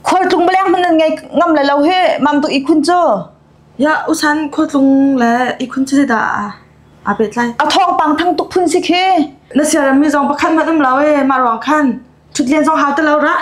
Khualtlung paleng hmun nan ngei ngam le lo hi mam tuk ihkhun cu. Ya usan khualtlung le ihkhun cu zeidah aa aa pehtlai? A thawngpang thang tuk phun si khi. Na siaremmi zong pakhat hmanh um lo ee mah ruang khan thut len zong hau ti lo rah.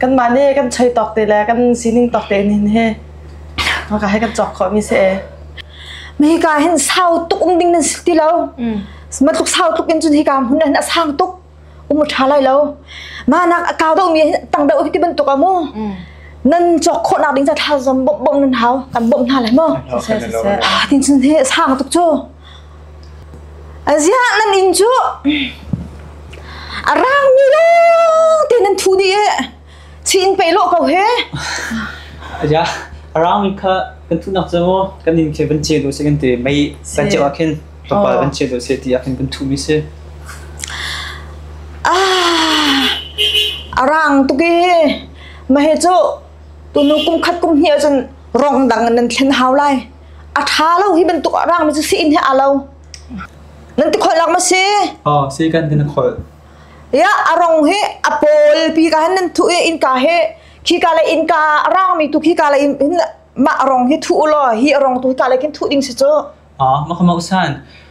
kanmah nih kan choi tawk te le kan sining tawk te nin he haka he kan chok kho mi se mi ka hin sau tuk um ding nan ti lo matluk sau tuk in chun hi ka hun hin asang tuk um tha lai lo ma nak akau dau mi tang be ti ban tuk amu nan chok kho nak ding cha tha zom bom bom nan hau kan bom hna lai mo tin chun he sang tuk chu A ziah nan inn cu a rangmi lawng te nan thu dih i chin pe lawh ko he. Aja, a raumi kha kan thu nak cu maw kan inn khi van ce du si kan ti mei kan ce ah khin kapal van ce du si ti ah khin kan thu mi si. Ah, a rang tuk i mahe cu tunu kum khat kum hnih cun rong dang nan thlen hau lai. A ṭha lo hi bantuk a rangmi cu si-inn he aa lo. Nan ti kholh lak ma si? Oh, si kan ti na kholh. Ya, a rong hi a pawl pi ka hen nan thu i innka he khi ka le innka a rangmi tu khi ka le in mah rong hi thu u law hi a rong tu hi ka le khin thu ding si cu. Ah, maka mausan.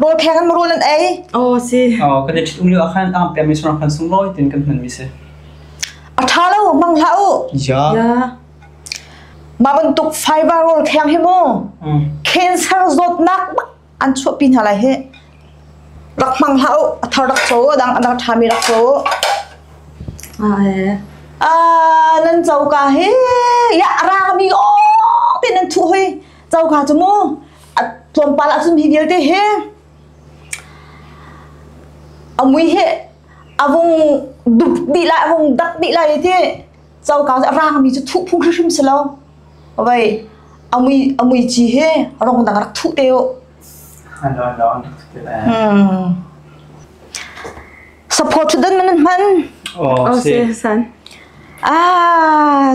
rawl phek in rawl an ei aw si oh kan i ṭhitum lio ah khan ang pem mi sung khan sung lawi tin kan hman mi si a ṭha lo mang hla u ya ya ma bantuk fiber rawl kheng hi mu cancer zawt nak an chuah pin hala hi rak mang hla u a thar rak cho dang adang ṭha mi rak cho a nan châu ka hi ya ra mi o tin an thu hui Coka cu mu tlawmpal ahcun hi vialte he amui he avung dup dih lai avung dak dih lai te coka cu rangmi cu thuh phung hrim si lo vai amui amui chi he rong dang rak thuh te u support to den man man oh se san ah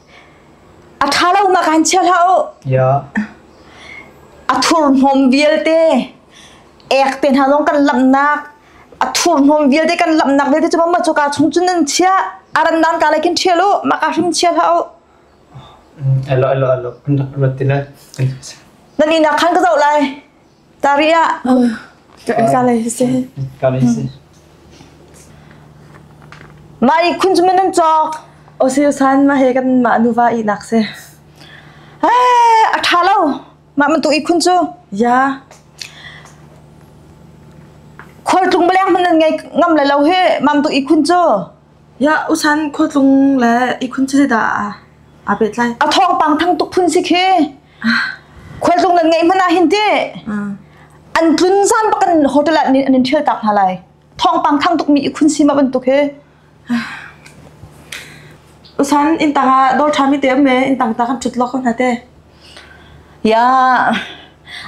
A ṭha lo ma kan chia hlah u. A thurhnawm vialte ek te hna zong kan lamnak a thurhnawm vialte kan lamnak vialte cu mamma cu ka chung cun nan chia aran nan ka lai kin ṭhial u ma ka hrim chia hlah u. Alo alo alo rat tina. Nan ina khan ka zo lai. Tari ah kale si. Kale si. Mai khun chu nan chok. Osi usan ma he kan ma nuva i nak se. He atha lo. Ma man tu i khun chu. Ya. Khol tlung beliang man nan ngai ngam la lo he mam tu i khun chu. Ya usan khol tlung le i khun chu da a. A bet lai. A thong pang thang tuk phun si khi. khualtlung nan ngeih hmanh ah hin ti an tlun zan bak an hotel ah an in ṭhial tak hna lai thawngpang thang tukmi i khun sima bantuk hi usan in tang ah dor ṭhami te me in tang ta kan ṭhut lo ko hna te ya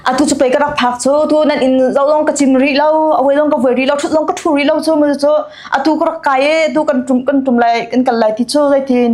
atu chu pei ka rak phak chu tu nan in zo long ka chim ri lo awai long ka voi ri lo thut long ka thu ri lo chu mu chu atu ka rak kai e tu kan tum kan tum lai kan kal lai ti chu zeitin